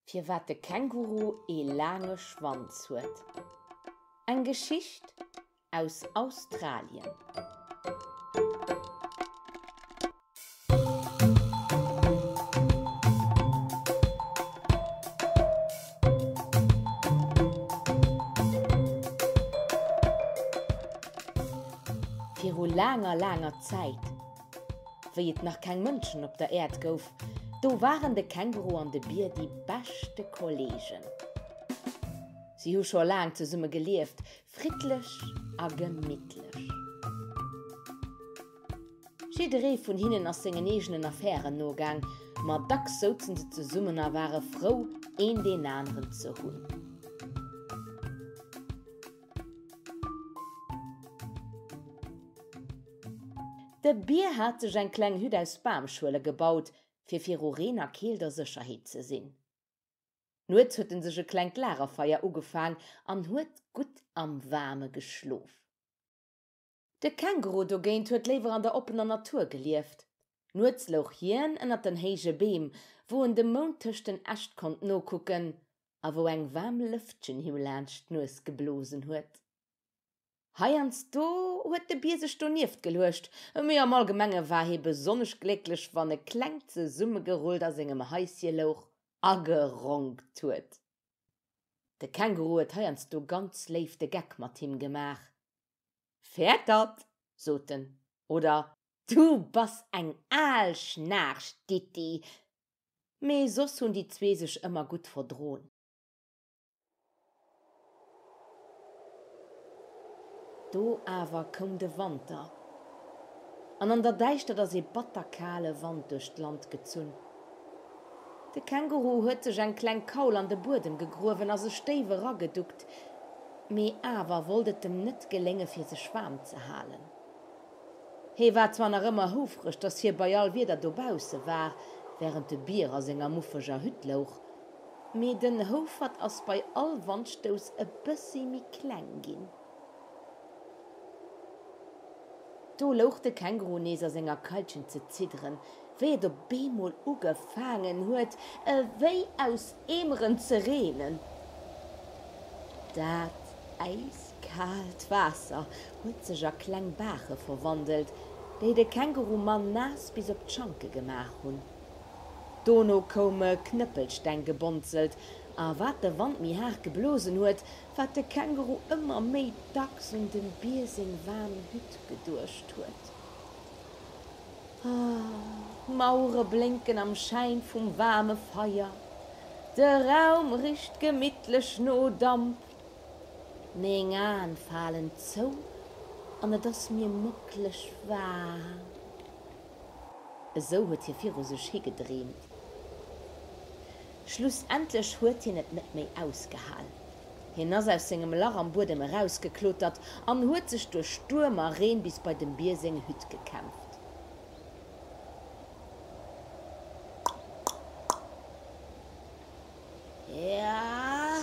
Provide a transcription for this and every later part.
Firwat de Känguru ee laange Schwanz huet. Eng Geschicht Aus Australien. Viru laanger, laanger Zäit, wéi et nach keng Mënschen op der Äerd gouf, do waren de Känguru an de Bier déi beschte Kolleegen. Si hu scho laang zesumme gelieft, Friddlech a gemittlech. Jidderee vun hinnen ass sengen eegenen Affären nogaang, ma dacks souzen se zesummen a ware frou, een deen aneren ze hunn. De Bier hat sech eng kleng Hütt aus Bamschuele gebaut, fir viru Reen a Keelt a Sécherheet ze sinn. Nuets huet en sech e klengt Lagerfeier ugefaang an huet gutt am Waarme geschlof. De Känguru dogéint huet léiwer an der oppener Natur gelieft. Nuets louch hien ënnert den héije Beem, wou en dem Mound tëscht den Äscht konnt nokucken a wou eng waarm Lëftchen him laanscht d'Nues geblosen huet. Heiansdo huet de Bier sech donieft geluecht, mee am Allgemenge war hie besonnesch glécklech, wann e klengt zesummegerullt a sengem Haisje louch a geronkt huet. De Känguru huet heiansdo ganz léif de Geck mat him gemaach, Fäert dat! sot en, oder Du bass eng al Schnaarch, Ditti! Mee soss hunn déi zwee sech ëmmer gutt verdroen. Do awer koum de Wanter, an an der Däischtert ass ee batter kale Wand duerch d'Land gezunn. De Känguru huet sech eng kleng Kaul an de Buedem gegruewen a sech déif erageduckt, mee awer wollt et em net gelénge fir sech waarm ze halen. Hee war zwar nach ëmmer houfreg, datt hie bei all Wieder dobausse war, wärend de Bier a senger muffeger Hütt louch Mee den Houfert ass bei all Wandstouss e bëssi méi kleng ginn. Do louch de Känguru nees a senger Keitchen ze zidderen, wéi et op eemol ugefaangen huet ewéi aus Eemeren ze reenen. Dat äiskaalt Waasser huet sech a kleng Baache verwandelt, déi de Kängurumann naass bis op d'Schanke gemaach hunn. Dono koum e Knëppelstenggebonzelt, a wat de Wand méi haart geblosen huet, wat de Känguru ëmmer méi dacks un dem Bier seng waarm Hütt geduecht huet. Ah, d'Mauere blénken am Schäin vum waarme Feier, de Raum richt gemittlech no Damp, meng Aen falen zou an et ass mir mockleg waarm. Esou huet hie viru sech hi gedreemt. Schlussendlech huet hien et net méi ausgehal. Hien ass aus sengem Lach am Buedem erausgeklotert an huet sech duerch Stuerm a Reen bis bei dem Bier seng Hütt gekämpft. Ja,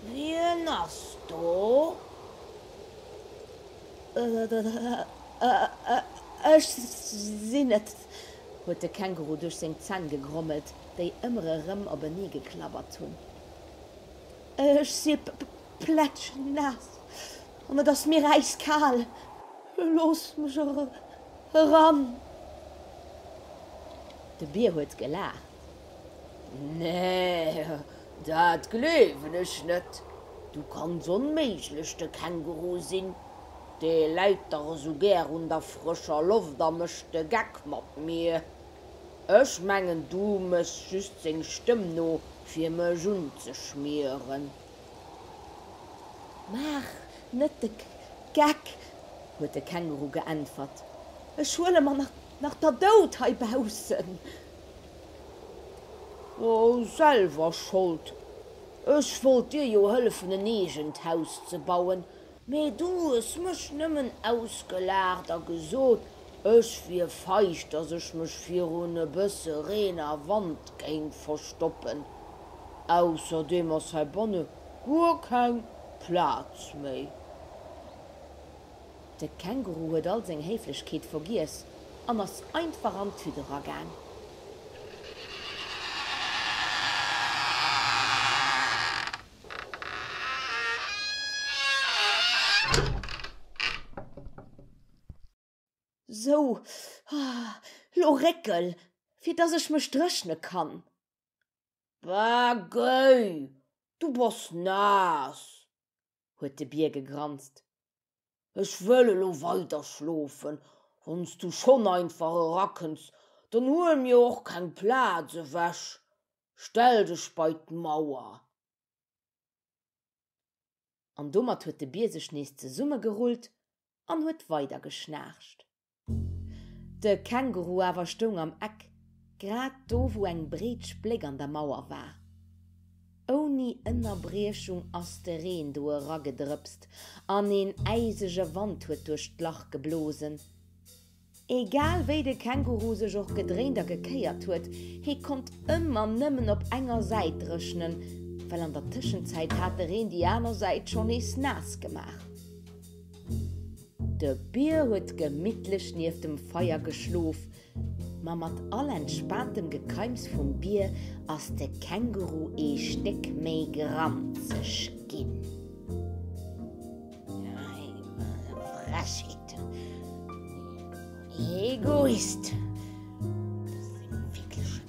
wien ass do? Ech sinn et, huet de Känguru duerch seng Zänn gegrommelt, déi ëmmer erëm openee geklabbert hunn. Ech si plätschnaass an et ass mir äiskal. Looss mech eran! De Bier huet gelaacht. Nee, dat gleewen ech net. Du kanns onméiglech de Känguru sinn. Dee läit dach esou gär un der frëscher Loft a mécht de Geck mat mir. Ech mengen, du méchs just seng Stëmm no, fir mech unzeschmieren. Maach net de Geck, huet de Känguru geäntwert. Ech huele mer nach der Dout heibaussen. Oh, selwer Schold. Ech wollt dir jo hëllefen en eegent Haus ze bauen, mee du hues mech nëmmen ausgelaacht a gesot, ech wier feig, dass ech mech virun e bësse Reen a Wand géing verstoppen. Ausserdeem ass heibanne guer keng Plaz méi. De Känguru huet all seng Héiflechkeet vergiess an ass einfach an d'Hütt eragaang. Sou, lo réckel, fir dass ech mech dréchne kann. Bäh, géi, du bass naass! huet de Bier gegranzt. Ech wëll elo weider schlofen. Wann s du schonn einfach erakënns, dann huel mir och keng Plaz ewech. Stell dech bei d'Mauer. An domat huet de Bier sech nees zesummegerullt an huet weider geschnaarcht. De Känguru awer stoung am Eck, grad do wou eng breet Spléck an der Mauer war. Ouni Ënnerbriechung ass de Reen do eragedrëpst an een äisege Wand huet duerch d'Lach geblosen. Egal wéi de Känguru sech och gedréint a gekéiert huet, hie konnt ëmmer nëmmen op enger Säit dréchnen, well an der Tëschenzäit hat de Reen déi aner Säit schonn nees naass gemaach. De Bier huet gemittlech nieft dem Feier geschlof, ma mat all entspaantem Gekeims vum Bier ass de Känguru ee Stéck méi granzeg ginn. Frechheet! Egoist!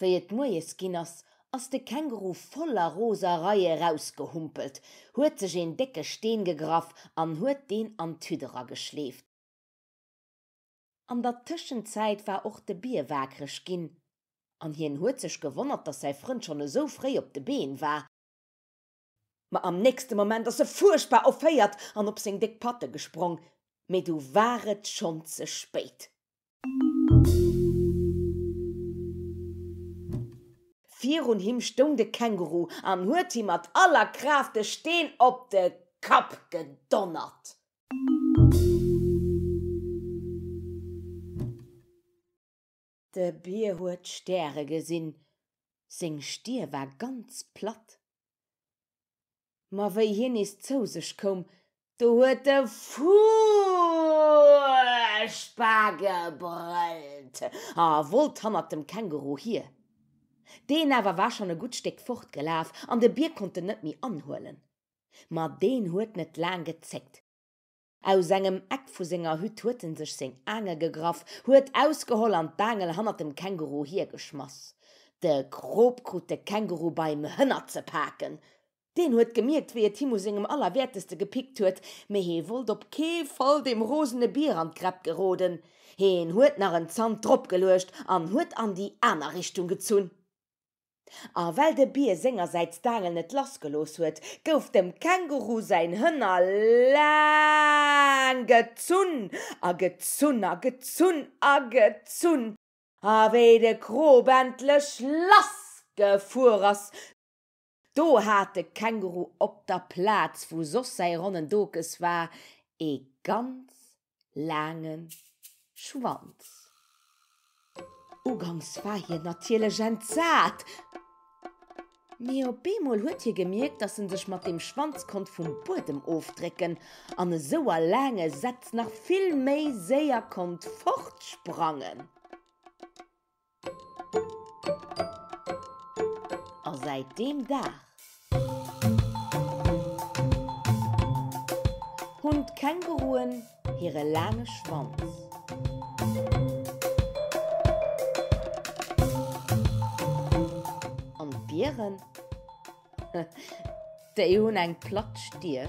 Wéi et moies ginn ass, ass de Känguru voller Roserei erausgehumpelt, huet sech een décke Steen gegraff an huet deen an d'Hütt erageschleeft. An der Tëschenzäit war och de Bier waakreg ginn an hien huet sech gewonnert, dass säi Frënd schonn esou fréi op de Been war. Ma am nächste Moment ass e fuerchtbar erféiert an op seng déck Patte gesprong, mee du war et schonn ze spéit. Virun him stoung de Känguru an huet him mat aller Kraaft de Steen op de Kapp gedonnert. De Bier huet d'Stäre gesinn, seng Stier war ganz platt. Ma wéi hien nees zou sech koum, do huet e fuerchtbar gebrëllt a wollt hannert dem Känguru hier. Deen awer war schonn e gutt Stéck fort gelaf an de Bier konnt en net méi anhuelen. Ma deen huet net laang gezéckt. Aus engem Eck vu senger Hütt huet en sech seng Aangel gegraff, huet ausgeholl an d'Aangel hannert dem Känguru hier geschmass. De Krop krut de Känguru beim Hënner ze paken. Deen huet gemierkt, wéi et him u sengem Allerwäerteste gepickt huet, mee hee wollt op kee Fall dem rosene Bier an d'Gräpp geroden. Heen huet nach en Zant drop geluecht an huet an déi aner Richtung gezunn. A well de Bier sengersäits d'Aangel net lass gelooss huet, gouf dem Känguru säin Hënner laang gezunn a gezunn a gezunn a gezunn, a wéi de Krop endlech lass gefuer ass, do hat de Känguru op der Plaz, wou soss säi ronnen Dokes war, ee ganz laangen Schwanz. Ugangs war hien natierlech entsat, mee op eemol huet hie gemierkt, dass en sech mat deem Schwanz konnt vum Buedem ofdrécken an esou a laange Sätz nach vill méi séier konnt fortsprangen. A säit deem Dag hunn d'Känguruen hire laange Schwanz. An d'Bieren? Déi hunn eng platt Stir.